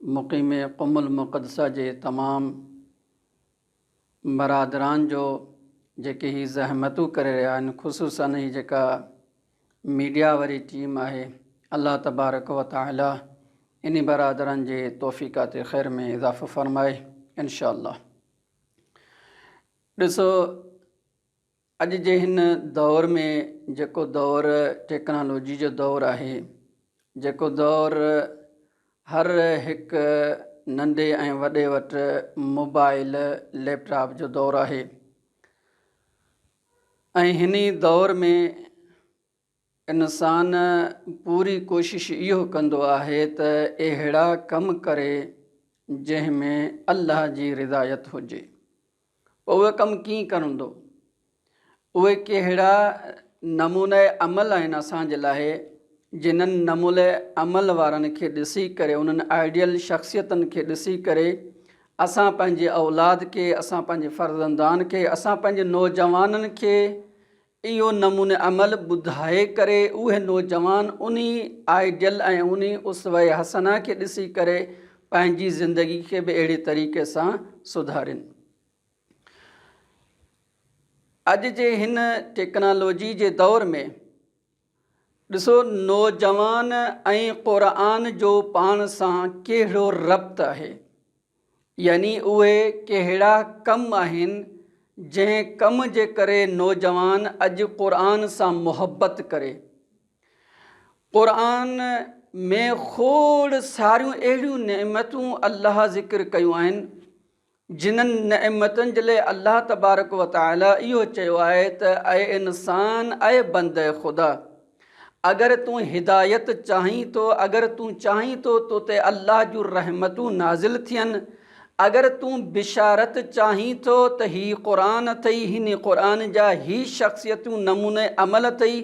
مقيم Qom المقدسه جي تمام برادران جو جيڪي هي زحمتون ڪري رهيا آهن خصوصا هي جيڪا ميڊيا واري ٽيم آهي الله تبارڪ و تعالي انهي برادران جي توفيقات خير ۾ اضافو فرمائي انشاء الله ڏسو اڄ جي هن دؤر ۾ جيڪو دؤر ٽيڪنالاجي جو دؤر آهي، جيڪو دؤر هر هڪ ننڍي ۽ وڏي وٽ موبائل، ليپ ٽاپ جو دؤر آهي ۽ هن ئي دؤر ۾. انسان پوري ڪوشش اهو ڪندو آهي ته اهڙا ڪم ڪري جنهن ۾ الله جي رضايت هجي. پوء اهي ڪم ڪيئن ڪرندو؟ اهي ڪهڙا نمونه عمل آهن اسان جي لاء جنهن نمونه عمل وارن کي ڏسي ڪري، انهن آئيڊيل شخصيتن کي ڏسي ڪري اسان پنهنجي اولاد کي، اسان پنهنجي فرزندان کي، اسان پنهنجي نوجوانن کي اهو نمون عمل ٻڌائي ڪري اهي نوجوان انهي آئيڊيل ۽ انهي اسوه حسنه کي ڏسي ڪري پنهنجي زندگي کي به اهڙي طريقي سان سڌارين. اڄ جي هن ٽيڪنالاجي جي دور ۾. ڏسو نوجوان ۽ قرآن جو پاڻ سان ڪهڙو ربط آهي يعني اهي ڪهڙا ڪم آهن جنهن ڪم جي ڪري نوجوان اڄ قرآن سان محبت ڪري. قرآن ۾ کوڙ ساريون اهڙيون نعمتون الله ذڪر ڪيون آهن جنھن نعمتن جي لاء الله تبارڪ و تعاليٰ اھو چيو آھي ته اي انسان، اي بنده خدا! اگر تون ھدايت چاھين ٿو، اگر تون چاھين ٿو تو تي الله جون رحمتون نازل ٿين، اگر تون بشارت چاھين ٿو ته ھي قرآن اٿئي، ھن قرآن جا ھي شخصيتون نموني عمل اٿئي،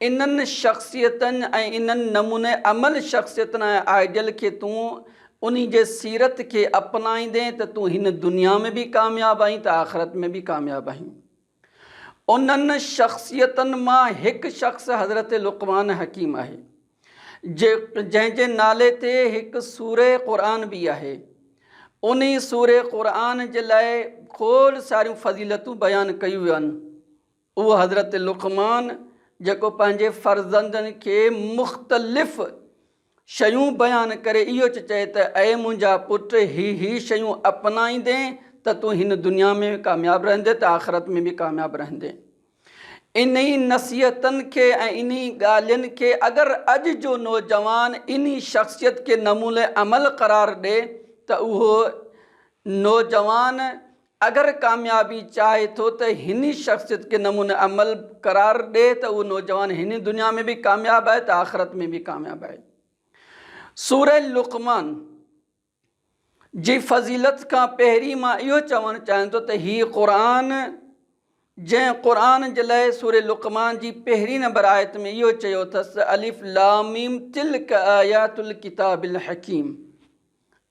انهن شخصيتن ۽ انهن نموني عمل شخصيتن ۽ آئيڊيل کي تون انهي جي سيرت کي اپنائيندين ته تون هن دنيا ۾ به ڪامياب آهين ته آخرت ۾ به ڪامياب آهين. انهن شخصيتن مان هڪ شخص حضرت لقمان حڪيم آهي. جنهن جي نالي تي هڪ سورة قرآن به آهي. انهي سورة قرآن جي لاء کوڙ ساريون فضيلتون بيان ڪيون ويون. اهو حضرت لقمان جيڪو پنهنجي فرزندن کي مختلف شيون بيان ڪري اهو چ چئي ته اي منهنجا پٽ هي هي شيون اپنائيندين ته تون هن دنيا ۾ ڪامياب رهندين ته آخرت ۾ به ڪامياب رهندين. انهي نصيحتن کي ۽ انهي ڳالهين کي اگر اڄ جو نوجوان انهي شخصيت کي نموني عمل قرار ڏي ته اهو نوجوان اگر ڪاميابي چاهي ٿو ته هني شخصيت کي نمونه عمل قرار ڏي ته اهو نوجوان هني دنيا ۾ به ڪامياب آهي ته آخرت ۾ به ڪامياب آهي. سوره لقمان جي فضيلت کان پهرين مان اهو چوڻ چاهيان ٿو ته هي قرآن جنهن قرآن جي لئه سوره لقمان جي پهرين نمبر آيت ۾ اهو چيو اٿس ته الف لام ميم تلک آيات الڪتاب الحڪيم.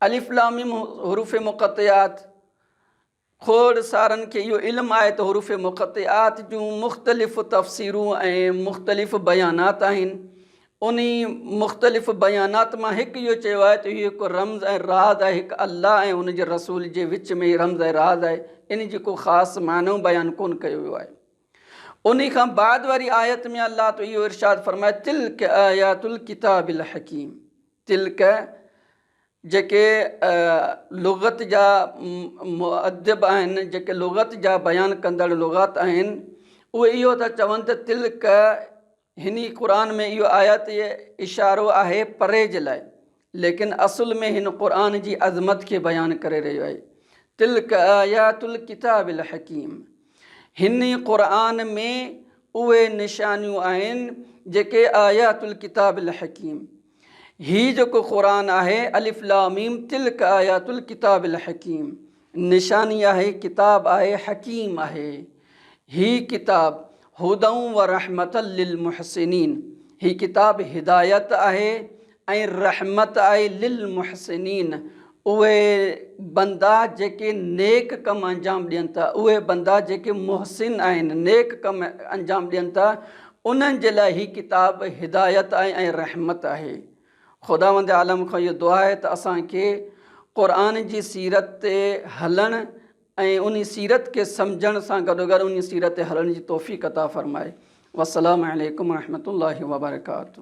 الف لام ميم حروف مقطعات کوڙ سارن کي اهو علم آهي ته حروف مقطعات جون مختلف تفسيرون ۽ مختلف بيانات آهن انهي مختلف بيانات مان هڪ اهو چيو آهي ته اهو هڪ رمز ۽ راز آهي هڪ الله ۽ ان جي رسول جي وچ ۾ هي رمز ۽ راز آهي انهي جي ڪو خاص معنو بيان ڪون ڪيو ويو آهي انهي کان بعد واري آيت ۾ الله تو اهو ارشاد فرمائي تلڪ آيات الڪتاب الحڪيم تلڪ، جيڪي لغت جا مؤدب آهن، جيڪي لغت جا بيان ڪندڙ لغات آهن، اهي اهو ٿا چون ته تلڪ هني قرآن ۾ اهو آيات اشارو آهي پري جي لاء ليڪن اصل ۾ هن قرآن جي عظمت کي بيان ڪري رهيو آهي تلڪ آيات الڪتاب الحڪيم. هن ئي قرآن ۾ اهي نشانيون آهن جيڪي آيات الڪتاب الحڪيم هي جيڪو قرآن آهي الف لام ميم تلڪ آيات الڪتاب الحڪيم نشاني آهي ڪتاب آهي حڪيم آهي هي ڪتاب هدئ و رحمة للمحسنين هي ڪتاب هدايت آهي ۽ رحمت آهي للمحسنين، اهي بندا جيڪي نيڪ ڪم انجام ڏين ٿا، اهي بندا جيڪي محسن آهن، نيڪ ڪم انجام ڏين ٿا، انهن جي لاء هي ڪتاب هدايت آهي ۽ رحمت آهي. خداوند عالم کان اهو دعا آهي ته اسان کي قرآن جي سيرت تي هلڻ ۽ انهي سيرت کي سمجهڻ سان گڏوگڏ انهي سيرت تي هلڻ جي توفيق عطا فرمائي. والسلام عليڪم ورحمة الله وبرڪاته.